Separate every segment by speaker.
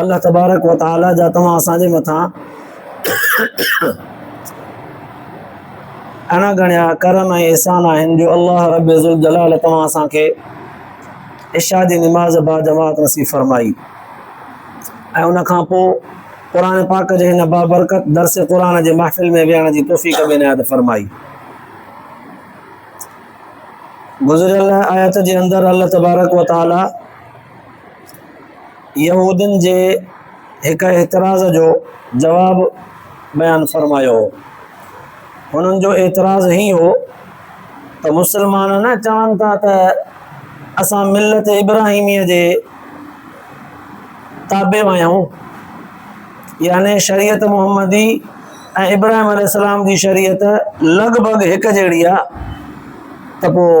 Speaker 1: الله تبارڪ و تعالي جا توهان اسان جي مٿان اڻا ڳڻيا ڪرم ۽ احسان آهن جو الله رب ذوالجلال توهان اسان کي عشاء جي نماز با جماعت نصيب فرمائي ۽ ان کان پوء قرآن پاڪ جي هن بابرڪت درس قرآن جي محفل ۾ ويهڻ جي توفيق به عنايت فرمائي گذريل آيت جي اندر الله تبارڪ و تعالي يهودين جي هڪ اعتراض جو جواب بيان فرمايو هو. هنن جو اعتراض هي هو ته مسلمان نه چون ٿا ته اسان ملت ابراهيميء جي تابع آهيون يعني شريعت محمدي ۽ ابراهيم عليه السلام جي شريعت لڳ ڀڳ هڪ جهڙي آهي ته پوء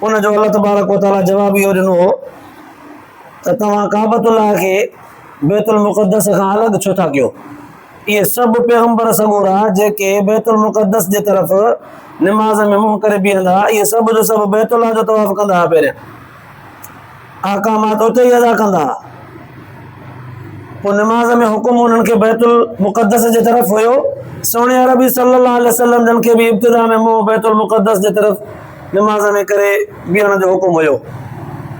Speaker 1: ان جو الله تبارڪ و تعالٰي جواب اهو ڏنو هو ته توهان ڪعبت الله کي بيت المقدس کان الڳ ڇو ٿا ڪيو اهي سڀ پيغمبر سڳورا جيڪي بيت المقدس جي طرف نماز ۾ منهن ڪري بيهندا اهي سڀ جو سڀ بيت الله جو طواف ڪندا هئا پهريان احڪامات اتي ئي ادا ڪندا ها. پوء نماز ۾ حڪم انهن کي بيت المقدس جي طرف هيو. سهڻي عربي صلي الله عليه وسلم جن کي به ابتدا ۾ منهن بيت المقدس جي طرف نماز ۾ ڪري بيهڻ جو حڪم هيو.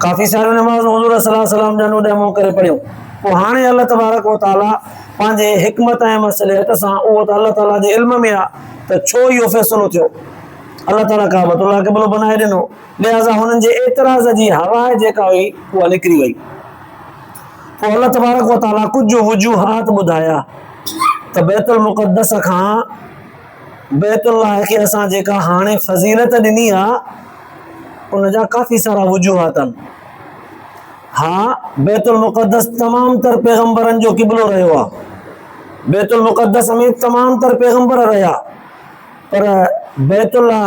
Speaker 1: ڪافي ساريون نمازون حضور صلي الله عليه وسلم جن اوڏي منهن ڪري پڙهيون. پوء هاڻي الله تبارڪ و تعاليٰ پنهنجي حڪمت ۽ مصلحت سان اهو ته الله تعاليٰ جي علم ۾ آ ته ڇو اهو فيصلو ٿيو. الله تعاليٰ ڪعبت الله قبلو بنائي ڏنو. لهٰذا هنن جي اعتراض جي هوا جيڪا هئي اها نڪري وئي. پوء الله تبارڪ و تعاليٰ ڪجهه وجوهات ٻڌايا ته بيت المقدس کان بيت الله کي اسان جيڪا هاڻي فضيلت ڏني آ ان جا ڪافي سارا وجوهات آهن. ها بيت المقدس تمام تر پيغمبرن جو قبلو رهيو آ. بيت المقدس ۾ تمام تر پيغمبر رهيا. پر بيت الله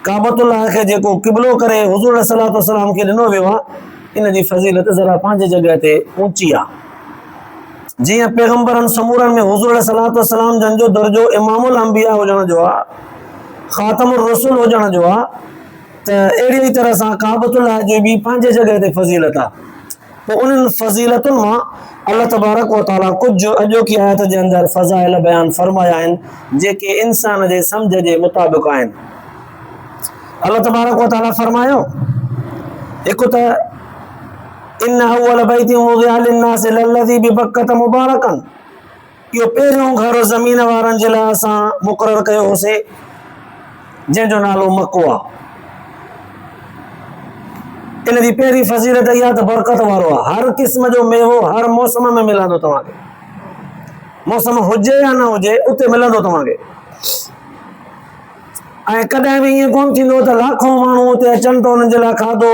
Speaker 1: ڪعبت الله کي جيڪو قبلو ڪري حضور عليه صلات وسلام کي ڏنو ويو آهي ان جي فضيلت ذرا پنهنجي جڳهه تي اوچي آهي جيئن پيغمبرن سمورن ۾ حضور عليه صلات وسلام جن جو درجو امام الانبياء هجڻ جو آهي خاتم الرسول هجڻ جو آهي ته اهڙي طرح سان ڪعبت الله جي به پنهنجي جڳهه تي فضيلت آهي پوء انهن فضيلتن مان الله تبارڪ و تعاليٰ ڪجهه اڄوڪي آيت جي اندر فضائل بيان فرمايا آهن، جيڪي انسان جي سمجهه جي مطابق آهن. الله تبارڪ و تعاليٰ فرمايو، هڪ ته ان اول بيت وضع للناس للذي ببڪة مبارڪا، اهو پهريون گهر زمين وارن جي لاء اسان مقرر ڪيو هوسي جنهن جو نالو مڪو آ. ان جي پهرين فضيلت اها ته برڪت وارو آ. هر قسم جو ميوو هر موسم ۾ ملندو توهان کي. موسم هجي يا نه هجي اتي ملندو توهان کي. ۽ ڪڏهن به ائين ڪون ٿيندو ته لاکون ماڻهو اتي اچن ته انهن جي لاء کاڌو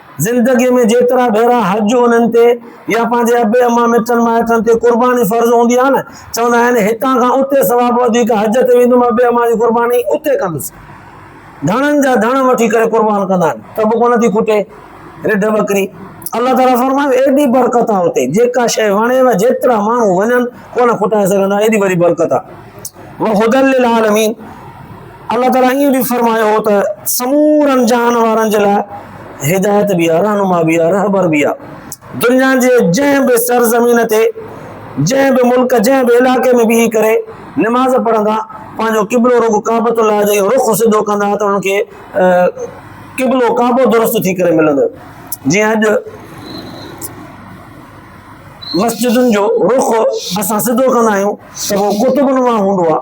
Speaker 1: زندگيء ۾ جيترا ڀيرا حج انهن تي يا پنهنجي ابي اما مٽن مائٽن تي قرباني فرض هوندي آهي نه چوندا آهن هتان کان اتي ثواب وڌيڪ حج تي ويندم ابي اما جي قرباني اتي ڪندس ڌڻن جا ڌڻ وٺي ڪري قربان ڪندا آهن ته به ڪونه ٿي کٽي رڍ ٻڪري الله تعاليٰ فرمايو ايڏي برڪت آ اتي جيڪا شيء وڻيو جيترا ماڻهو وڃن ڪونه کٽائي سگهندا ايڏي وڏي برڪت آ وهدل للعالمين الله تعاليٰ ائين به فرمايو هو ته سمورن جهان وارن جي لاء هدايت به آهي، رهنما به آهي، رهبر به آهي. دنيا جي جنهن به سرزمين تي، جنهن به ملڪ، جنهن به علائقي ۾ بيهي ڪري نماز پڙهندا، پنهنجو قبلو رڳو ڪعبة الله جي رخ سڌو ڪندا ته انهن کي قبلو ڪعبو درست ٿي ڪري ملندو. جيئن اڄ مسجدن جو رخ اسان سڌو ڪندا آهيون ته اهو قطب نما هوندو آهي.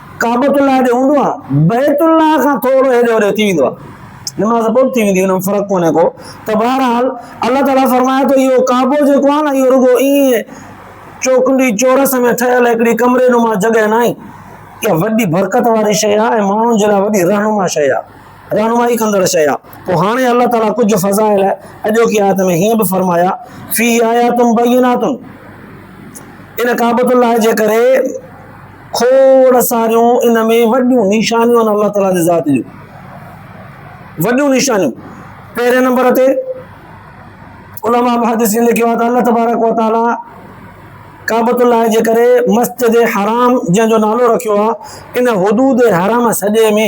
Speaker 1: ڪعبة الله ڏي هوندو آهي، بيت الله کان ٿورو هيڏي هوڏي ٿي ويندو آهي، نماز پوء به ٿي ويندي، ان ۾ فرق ڪونهي ڪو، ته بهرحال الله تعاليٰ فرمائي ٿو اهو ڪعبو جيڪو آهي نه اهو رڳو ائين چوڪنڊي چورس ۾ ٺهيل هڪڙي ڪمري نما جڳهه ناهي، اها وڏي برڪت واري شيء آهي ۽ ماڻهن جي لاء وڏي رهنما شيء آهي، رهنمائي ڪندڙ شيء آهي، پوء هاڻي الله تعاليٰ ڪجهه فضائل اڄوڪي آيت ۾ هيئن به فرمايا، فيه آيات بينات، ان ڪعبة الله جي ڪري، کوڙ ساريون ان ۾ وڏيون نشانيون آهن الله تعاليٰ جي ذات جون وڏيون نشانيون پهرين نمبر تي علماء محدثين لکيو آهي ته الله تبارڪ وتعاليٰ ڪعبت الله جي ڪري مسجد حرام جنهن جو نالو رکيو آهي ان حدود حرام سڄي ۾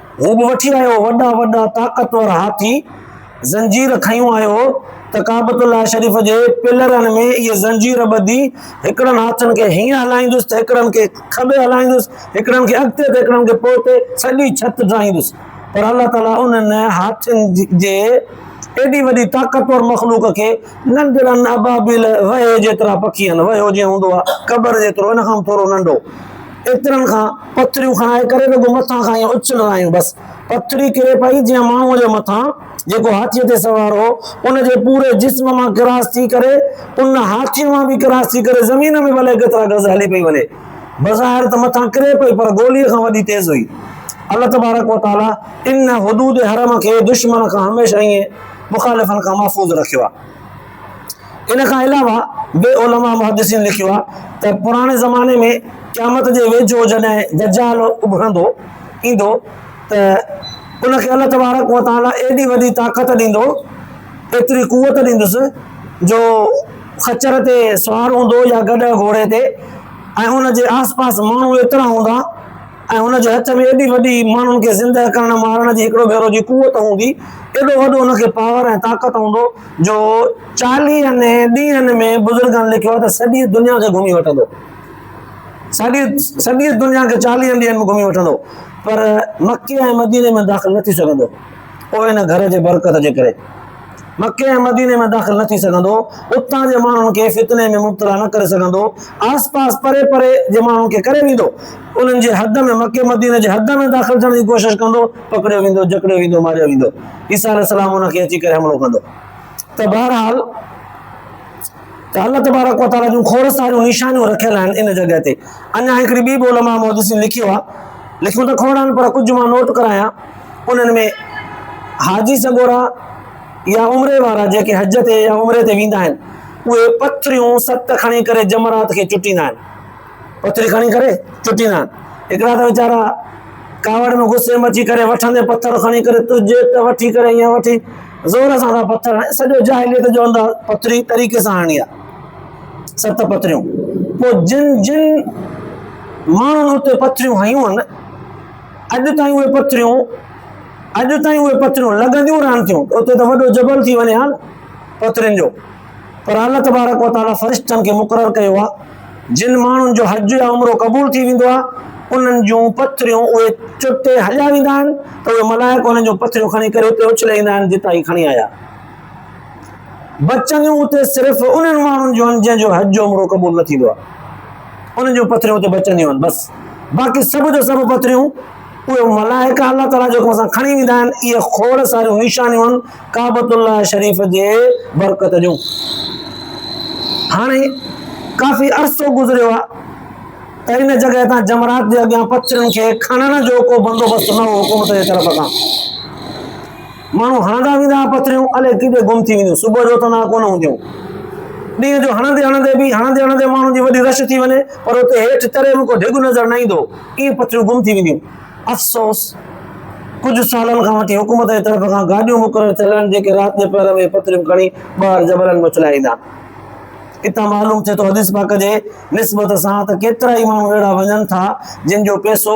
Speaker 1: هو به وٺي آيو وڏا وڏا طاقتور هاٿي زنجير کنيون آيو ته ڪعبت الله شريف جي پلرن ۾ اهي زنجير ٻڌي هڪڙن هاٿن کي هيئن هلائيندس ته هڪڙن کي کٻي هلائيندس هڪڙن کي اڳتي ته هڪڙن کي پوئتي سڄي ڇت ڊاهيندس پر الله تعاليٰ انهن هاٿين جي ايڏي وڏي طاقتور مخلوق کي ننڍڙن ابابيل وهي جيترا پکين، وهيو جيئن هوندو آهي قبر جيترو، ان کان به ٿورو ننڍو، ايترن کان پٿريون کڻائي ڪري رڳو مٿان کان ائين اڇلرايون بس، پٿري ڪري پئي جيئن ماڻهوء جي مٿان جيڪو هاٿيء تي سوار هو، ان جي پوري جسم مان ڪراس ٿي ڪري، ان هاٿيء مان به ڪراس ٿي ڪري زمين ۾ به الائي ڪيترا گز هلي پئي وڃي. بظاهر ته مٿان ڪري پئي پر گوليء کان وڏي تيز هئي. الله تبارڪ و تعاليٰ ان حدود حرم کي دشمن کان هميشه ائين مخالفن کان محفوظ رکيو آهي. ان کان علاوه به علماء محدثين لکيو آهي ته پراڻي زماني ۾ قيامت جي ويجهو جڏهن دجال اڀرندو ايندو ته ان کي الله تبارڪ و تعالي ايڏي وڏي طاقت ڏيندو ايتري قوت ڏيندس جو خچر تي سوار هوندو يا گڏهه گهوڙي تي ۽ ان جي آس پاس ماڻهو ايترا هوندا ۽ هن جي هٿ ۾ ايڏي وڏي ماڻهن کي زندهه ڪرڻ مارڻ جي هڪڙو ڀيرو جي قوت هوندي، ايڏو وڏو هن کي پاور ۽ طاقت هوندو جو چاليهن ڏينهن ۾ بزرگن لکيو آهي ته سڄي دنيا کي گهمي وٺندو. سڄي سڄي دنيا کي چاليهن ڏينهن ۾ گهمي وٺندو پر مڪي ۽ مديني ۾ داخل نه ٿي سگهندو. پوء ان گهر جي برڪت جي ڪري. مڪي ۽ مديني ۾ داخل نه ٿي سگهندو، اتان جي ماڻهن کي فتني ۾ مبتلا نه ڪري سگهندو، آس پاس پري پري جي ماڻهن کي ڪري ويندو، انهن جي حد ۾ مڪي مديني جي حد ۾ داخل ٿيڻ جي ڪوشش ڪندو، پڪڙيو ويندو، جڪڙيو ويندو، ماريو ويندو، عيسيٰ عليه السلام ان کي اچي ڪري حملو ڪندو ته بهرحال ته الله تبارڪ وتعاليٰ جون کوڙ ساريون نشانيون رکيل آهن ان جڳهه تي اڃا هڪڙي ٻي به علماء محدثين لکيو آهي لکيون ته کوڙ آهن پر ڪجهه مان نوٽ ڪرايان. انهن ۾ حاجي سڳورا يا عمري وارا جيڪي حج تي يا عمري تي ويندا آهن، اهي پٿريون ست کڻي ڪري جمرات کي چٽيندا آهن. پٿري کڻي ڪري چٽيندا آهن. هڪڙا ته ويچارا ڪاوڙ ۾ غصي ۾ اچي ڪري وٺندي پٿر کڻي ڪري تجهي ته وٺي ڪري ائين وٺي زور سان ٿا پٿر هڻن. سڄو جاهليت جو انداز پٿري طريقي سان هڻڻي آهي. ست پٿريون. پوء جن جن ماڻهن اتي پٿريون هنيون هن، اڄ تائين اهي پٿريون اڄ تائين اهي پٿريون لڳنديون رهن ٿيون اتي ته وڏو جبل ٿي وڃي ها نه پٿرين جو پر الله تبارڪ وتعاليٰ فرشتن کي مقرر ڪيو آ جن ماڻهن جو حج يا عمرو قبول ٿي ويندو آ انهن جون پٿريون اهي چٽي هليا ويندا آهن ته اهي ملائڪ انهن جون پٿريون کڻي ڪري اتي اڇلي ايندا آهن جتان هي کڻي آيا بچنديون اتي صرف انهن ماڻهن جون آهن جنهن جو حج جو عمرو قبول نه ٿيندو آهي انهن جون پٿريون اتي بچنديون آهن بس باقي سڀ جو سڀ پٿريون اهي ملائڪ الله تعالیٰ جو حڪم سان کڻي ويندا آهن اهي کوڙ ساريون نشانيون آهن ڪعبت الله شريف جي برڪت جون هاڻي ڪافي عرصو گذريو آهي ته ان جڳهه تان جمرات جي اڳيان پٿرين کي کڻڻ جو ڪو بندوبست نه هو حڪومت جي طرف کان ماڻهو هڻندا ويندا ها پٿريون الئي ڪيڏي گم ٿي وينديون صبح جو اٿندا ها ڪونه هونديون ڏينهن جو هڻندي هڻندي به هڻندي هڻندي ماڻهن جي وڏي رش ٿي وڃي پر اتي هيٺ تري به ڪو ڊگهه نظر نه ايندو ائين پٿريون گم ٿي وينديون افسوس ڪجهه سالن کان وٺي حڪومت جي طرف کان گاڏيون مقرر ٿيل آهن جيڪي رات جي پهر ۾ پٿريون کڻي ٻاهر جبلن ۾ اڇلائي ايندا آهن اتان معلوم ٿئي ٿو حديث پاڪ جي نسبت سان ته ڪيترا ئي ماڻهو اهڙا وڃن ٿا جن جو پئسو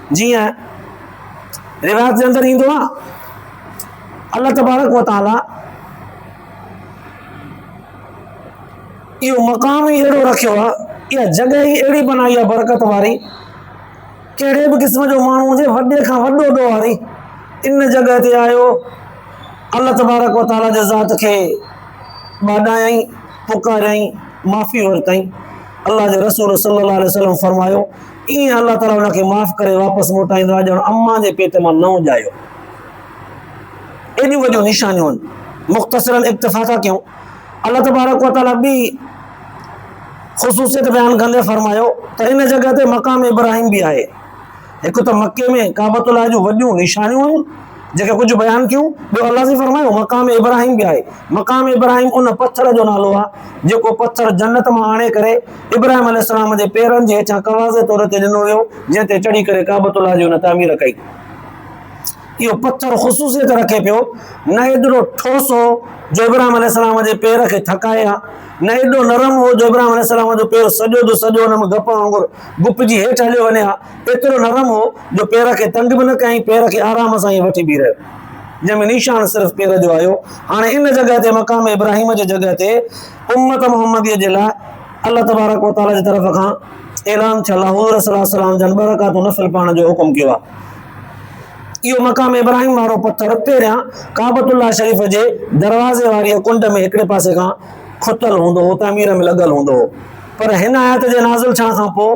Speaker 1: جيئن روايت جي اندر ايندو آ الله تبارڪ و تعالٰي اهو مقام ئي اهڙو رکيو آ اها جڳهه ئي اهڙي بنائي آ برڪت واري ڪهڙي به قسم جو ماڻهو هجي وڏي کان وڏو ڏوهاري ان جڳهه تي آيو الله تبارڪ و تعالٰي جي ذات کي ٻاڏايائين پڪاريائين معافي ورتائين الله جي رسول صلّي الله عليه وسلّم فرمايو ايئن الله تعاليٰ ان کي معاف ڪري واپس موٽائيندو آهي ڄڻ امان جي پيٽ مان نئون ڄايو هو. ايڏيون وڏيون نشانيون آهن. مختصرا اڪتفا ٿا ڪيون. الله تبارڪ و تعاليٰ ٻي خصوصيت بيان ڪندي فرمايو ته ان جڳهه تي مقام ابراهيم به آهي. هڪ ته مڪي ۾ ڪعبة الله جون وڏيون نشانيون آهن. جيڪي ڪجهه بيان ٿيون، ٻيو الله سائين فرمايو، مقام ابراهيم به آهي، مقام ابراهيم ان پٿر جو نالو آهي، جيڪو پٿر جنت مان آڻي ڪري ابراهيم عليه السلام جي پيرن جي هيٺيان ڪواضح طور تي ڏنو ويو، جنهن تي چڙهي ڪري ڪعبت الله جي هن تعمير ڪئي. اهو پٿر خصوصيت رکي پيو، نه ايڏو ٺوس هو جو ابراهيم عليه السلام جي پير کي ٿڪائي ها، نه ايڏو نرم هو جو ابراهيم عليه السلام جو پير سڄو جو سڄو ان ۾ گپ وانگر گپجي هيٺ هليو وڃي ها، ايترو نرم هو جو پير کي تنگ به نه ڪيائين، پير کي آرام سان ائين وٺي بيهي رهيو، جنهن ۾ نيشان صرف پير جو آيو. هاڻي ان جڳهه تي مقام ابراهيم جي جڳهه تي امت محمديء جي لاء الله تبارڪ و تعاليٰ جي طرف کان اعلان ٿيل آهي، حضور صلي الله عليه وسلم جن ٻه رڪعتون نفل پڙهڻ جو حڪم ڪيو آهي. اهو مقام ابراهيم وارو پٿر پهريان ڪعبة الله شريف جي دروازي واريء ڪنڊ ۾ هڪڙي پاسي کان کتل هوندو هو، تعمير ۾ لڳل هوندو هو، پر هن آيت جي نازل ٿيڻ کان پوء،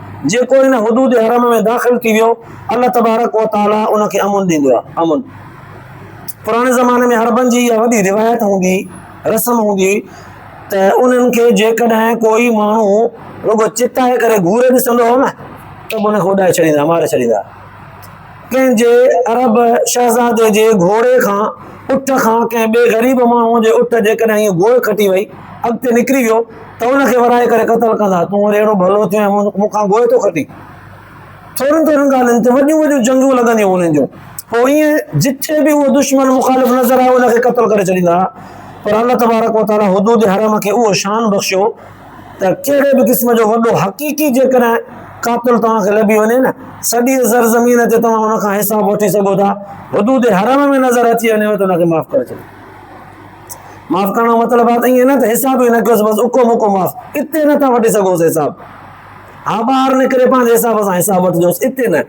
Speaker 1: جيڪو ان حدود حرم ۾ داخل ٿي ويو، الله تبارڪ و تعاليٰ ان کي امن ڏيندو آهي. امن پراڻي زماني ۾ عربن جي اها وڏي روايت هوندي هئي، رسم هوندي هئي ته انهن کي جيڪڏهن ڪوئي ماڻهو رڳو چتائي ڪري گهوري ڏسندو هو نه ته به ان کي اڏائي ڇڏيندا هئا، ماري ڇڏيندا هئا. ڪنهن جي عرب شهزادي جي گهوڙي کان، اٺ کان، ڪنهن ٻئي غريب ماڻهوء جي اٺ جيڪڏهن هيء گوء کٽي وئي، اڳتي نڪري ويو، ته ان کي ورائي ڪري قتل ڪندا. تون وري اهڙو ڀلو ٿيو ۽ مون کان گوء ٿو کٽين. ٿورين ٿورين ڳالهين تي وڏيون وڏيون جنگيون لڳنديون هن جون. پوء ايئن جتي به اهو دشمن مخالف نظر آيو، ان کي قتل ڪري ڇڏيندا هئا. پر الله تبارڪ و تعاليٰ حدود حرم کي اهو شان بخشيو، ته ڪهڙي به قسم جو وڏو حقيقي جيڪڏهن قاتل توهان کي لڀي وڃي نه، سڄيء زرزمين تي توهان ان کان حساب وٺي سگهو ٿا، حدود حرم ۾ نظر اچي وڃيو ته ان کي معاف ڪري ڇڏيو. معاف ڪرڻ جو مطلب آهي ته ائين نه ته حساب ئي نه ڪيوس بس اڪو مڪو معاف، اتي نه ٿا وٺي سگهوس حساب. ها ٻاهر نڪري پنهنجي حساب سان حساب وٺجوس، اتي نه.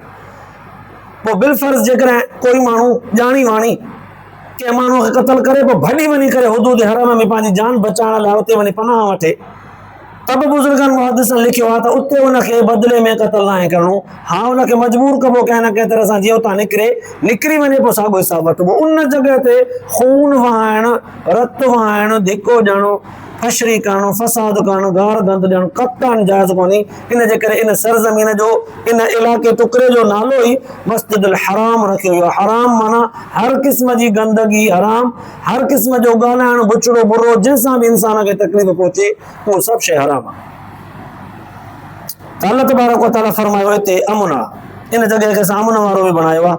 Speaker 1: پوء بالفرض جيڪڏهن ڪوئي ماڻهو ڄاڻي واڻي، ڪنهن ماڻهوء کي قتل ڪري پوء ڀڄي وڃي ڪري حدود حرم ۾ پنهنجي جان بچائڻ لاء اتي وڃي پناهه وٺي ته به بزرگن محدثن لکيو آهي ته اتي ان کي بدلي ۾ قتل ناهي ڪرڻو ها ان کي مجبور ڪبو ڪنهن نه ڪنهن طرح سان جيئن اتان نڪري نڪري وڃي پوء ساڳو حساب وٺبو ان جڳهه تي خون وهائڻ رت وهائڻ ڌڪو ڏيڻ فشري ڪرڻ فساد ڪرڻ گار گند ڏيڻ قطعا جائز ڪونهي ان جي ڪري ان سرزمين جو ان علائقي ٽڪري جو نالو ئي مسجد الحرام رکيو ويو حرام معنی هر قسم جي گندگي حرام هر قسم جو ڳالهائڻ بڇڙو برو جنهن سان به انسان کي تڪليف پهچي اهو سڀ شيء حرام آهي الله تبارڪ وتعالى فرمايو هتي امن آهي ان جڳهه کي اسان امن وارو به بڻايو آهي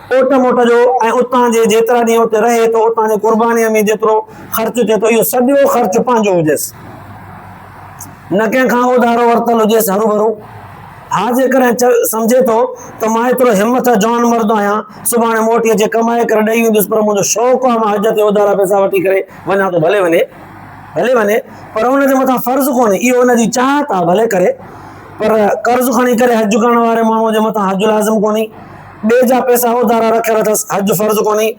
Speaker 1: اوٽ موٽ جو ۽ اتان جي جيترا ڏينهن اتي رهي ٿو اتان جي قربانيء ۾ جيترو خرچ ٿئي ٿو اهو سڄو خرچ پنهنجو هجيس نه ڪنهن کان اوڌارو ورتل هجيس هروڀرو ها جيڪڏهن سمجهي ٿو ته مان ايترو همٿ جوان مرد آهيان سڀاڻي موٽي اچي ڪمائي ڪري ڏئي ويندس پر منهنجو شوق آهي مان حج تي اوڌارا پئسا وٺي ڪري وڃان ٿو ڀلي وڃي ڀلي وڃي پر ان جي مٿان فرض ڪونهي اهو ان جي چاهت آهي ڀلي ڪري پر قرض کڻي ڪري حج ڪرڻ واري ماڻهوء جي مٿان حج لازم ڪونهي ٻئي جا پئسا اوڌارا رکيل اٿس، حج فرض ڪونهي،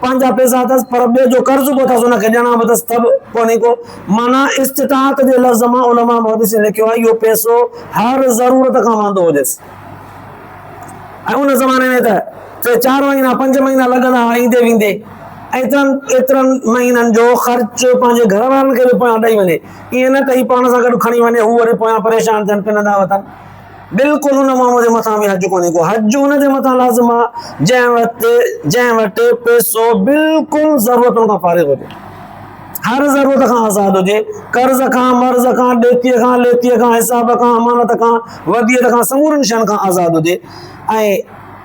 Speaker 1: پنهنجا پئسا اٿس پر ٻئي جو قرض به اٿس ان کي ڏيڻا به اٿس ته به ڪونهي ڪو معنيٰ استطاعت جي لفظ مان علماء محدثين لکيو آهي اهو پئسو هر ضرورت کان واندو هجيس ۽ ان زماني ۾ ته ٽي چار مهينا پنج مهينا لڳندا هئا ايندي ويندي ايترن ايترن مهينن جو خرچ پنهنجي گهر وارن کي به پويان ڏئي وڃي ائين نه ته هي پاڻ سان گڏ کڻي وڃي هو وري پويان پريشان ٿين پنندا وتن بلڪل ان ماڻهوء جي مٿان به حج ڪونهي ڪو، حج ان جي مٿان لازم آ، جنهن وٽ جنهن وٽ پيسو بلڪل ضرورتن کان فارغ هجي، هر ضرورت کان آزاد هجي، قرض کان، مرض کان، ڏيتيء کان، ليتيء کان، حساب کان، امانت کان، وديعت کان، سمورين شين کان آزاد هجي ۽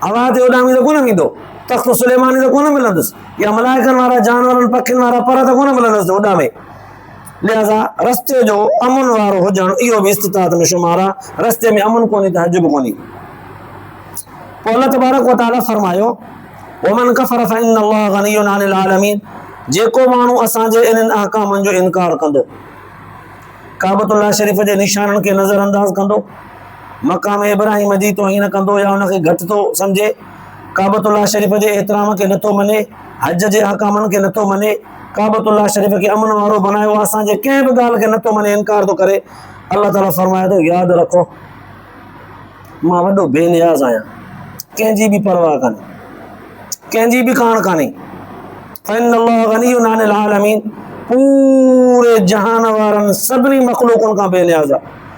Speaker 1: اوهان تي اڏامي ته ڪونه ويندو، تخت سليماني ته ڪونه ملندس، يا ملائڪن وارا، جانورن، پکين وارا پر ته ڪونه ملندس جو اڏامي. لهذا رستي جو امن وارو هجڻ اهو به استطاعت ۾ شمار آ، رستي ۾ امن ڪونهي ته حج به ڪونهي. پوء الله تبارڪ و تعاليٰ فرمايو، ومن کفر فإن الله غني عن العالمين جيڪو ماڻهو اسان جي انهن احڪامن جو انڪار ڪندو، ڪعبة الله شريف جي نشانن کي نظر انداز ڪندو، مقام ابراهيم جي توهين ڪندو يا ان کي گهٽ ٿو سمجهي، ڪعبة الله شريف جي احترام کي نٿو مڃي، حج جي احڪامن کي نٿو مڃي، ڪعبة الله شريف کي امن وارو بنايو اسان جي ڪنهن به ڳالهه کي نٿو مڃي انڪار ٿو ڪري، الله تعالي فرمائي ٿو ياد رکو مان وڏو بي نياز آهيان ڪنهن جي به پرواهه ڪانهي ڪنهن جي به ڪاڻ ڪانهي فإن الله غني عن العالمين پوري جهان وارن سڀني مخلوقن کان بي نياز آهي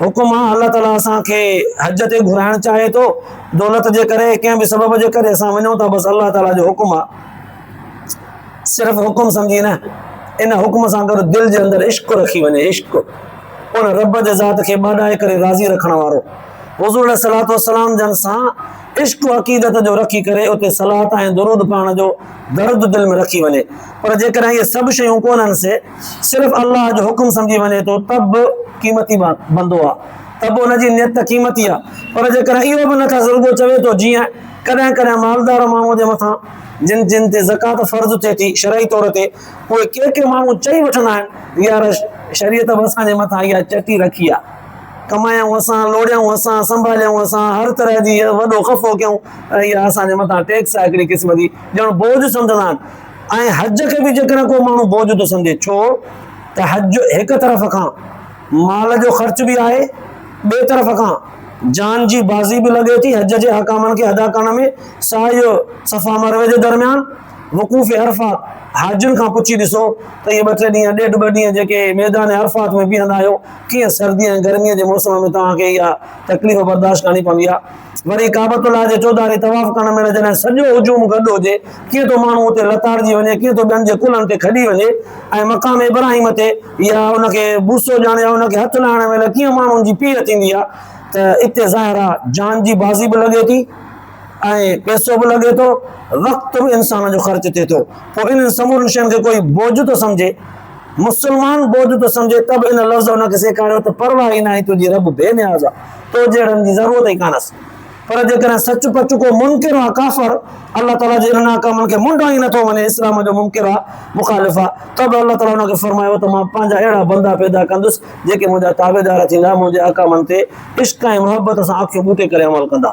Speaker 1: حڪم آ، الله تعاليٰ اسان کي حج تي گهرائڻ چاهي ٿو، دولت جي ڪري، ڪنهن به سبب جي ڪري اسان وڃون ٿا، بس الله تعاليٰ جو حڪم آ، صرف حڪم سمجهي نه، ان حڪم سان گڏ دل جي اندر عشق رکي وڃي، عشق، ان رب جي ذات کي ٻاڏائي ڪري راضي رکڻ وارو، حضور عليه الصلوة والسلام جن سان عشق و عقيدت جو رکي ڪري اتي صلات ۽ درود پڙهڻ جو درد دل ۾ رکي وڃي، پر جيڪڏهن اهي سڀ شيون ڪونهن سي، صرف الله جو حڪم سمجهي وڃي ٿو ته به قيمتي بندو آهي، ته به ان جي نيت قيمتي آهي، پر جيڪڏهن اهو به نه ٿس رڳو چوي ٿو جيئن ڪڏهن ڪڏهن مالدار ماڻهوء جي مٿان جن جن تي زڪوات فرض ٿئي ٿي شرعي طور تي اهي ڪي ڪي ماڻهو چئي وٺندا آهن يار شريعت به اسان جي مٿان اها چٽي رکي آهي ڪمايائون اسان لوڙيائون اسان سنڀاليائون اسان هر طرح جي وڏو خفو ڪيائون ۽ اها اسان جي مٿان ٽيڪس آهي هڪڙي قسم جي ڄڻ بوجھ سمجهندا آهن ۽ حج کي به جيڪڏهن ڪو ماڻهو بوجهه ٿو سمجهي ڇو ته حج هڪ طرف کان مال جو خرچ به آهي ٻئي طرف کان جان جي بازي به لڳي ٿي حج جي احڪامن کي ادا ڪرڻ ۾ سعي صفا مروي جي درميان وقوف عرفات حاجين کان پڇي ڏسو ته اهي ٻه ٽي ڏينهن ڏيڍ ٻه ڏينهن جيڪي ميدان عرفات ۾ بيهندا آهيو ڪيئن سردي ۽ گرمي جي موسم ۾ توهان کي اها تڪليف برداشت ڪرڻي پوندي آهي وري ڪعبة الله جي چوڌاري طواف ڪرڻ مهل جڏهن سڄو هجوم گڏ هجي، ڪيئن ٿو ماڻهو اتي لتاڙجي وڃي، ڪيئن ٿو ٻين جي ڪلهن تي کڄي وڃي ۽ مقام ابراهيم تي يا ان کي بوسو ڏيڻ يا ان کي هٿ لاهڻ مهل ڪيئن ماڻهن جي پيڙ ٿيندي آهي ته اتي ظاهر آهي جان جي بازي به لڳي ٿي ۽ پئسو به لڳي ٿو، وقت به انسان جو خرچ ٿئي ٿو، پوء انهن سمورين شين کي ڪوئي بوجھ ٿو سمجھي؟ مسلمان بوجھ پيو سمجهي ته به ان لفظ ان کي سيکاريو ته پرواهه ئي ناهي تنهنجي رب بي نياز آ، تو جهڙن جي ضرورت ئي ڪانهس. پر جيڪڏهن سچ پچ ڪو منڪر آ، ڪافر، الله تعاليٰ جي انهن احڪامن کي منڍان ئي نٿو مڃي، اسلام جو منڪر آ، مخالف آ، ته به الله تعاليٰ ان کي فرمايو ته مان پنهنجا اهڙا بندا پيدا ڪندس جيڪي منهنجا تابعدار ٿيندا، منهنجي احڪامن تي عشق ۽ محبت سان اکيون ٻوٽي ڪري عمل ڪندا.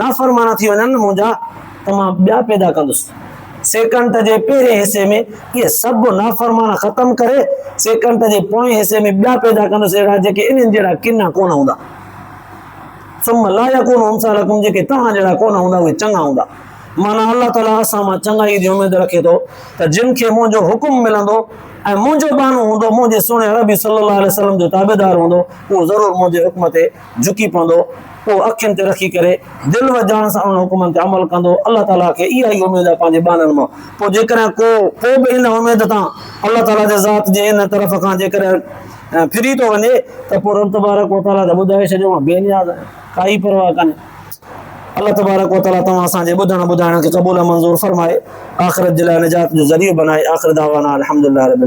Speaker 1: نافرمان ٿي وڃن منهنجا ته مان ٻيا پيدا ڪندس. سيڪنڊ جي پهرين حصي ۾ اهي سڀ نافرمان ختم ڪري سيڪنڊ جي پوئين حصي ۾ ٻيا پيدا ڪندس اهڙا جيڪي انهن جهڙا ڪنا ڪونه هوندا. ثم لا يڪون امثالكم جيڪي توهان جهڙا ڪونه هوندا اهي چڱا هوندا. معنيٰ الله تعاليٰ اسان مان چڱائيء جي اميد رکي ٿو ته جن کي منهنجو حڪم ملندو ۽ منهنجو ٻانهو هوندو منهنجي سهڻي عربي صلّي الله عليه وسلّم جو تابعدار هوندو اهو ضرور منهنجي حڪم تي جهڪي پوندو، اهو اکين تي رکي ڪري دل و جان سان انهن حڪمن تي عمل ڪندو، الله تعاليٰ کي اها ئي اميد آهي پنهنجي ٻانهن مان، پوء جيڪڏهن ڪو ڪو به ان اميد تان، الله تعاليٰ جي ذات جي ان طرف کان، جيڪڏهن ڦري ٿو وڃي ته پوء رب تبارڪ و تعاليٰ کي ٻڌائي ڇڏيو مان بي نياز آهيان، ڪائي پرواهه ڪانهي. الله تبارڪ و تعاليٰ توهان اسان جي ٻڌڻ ٻڌائڻ کي قبول ۽ منظور فرمائي، آخرت جي لاء نجات جو ذريعو بنائي، آخر دعوانا ان الحمدلله رب العالمين.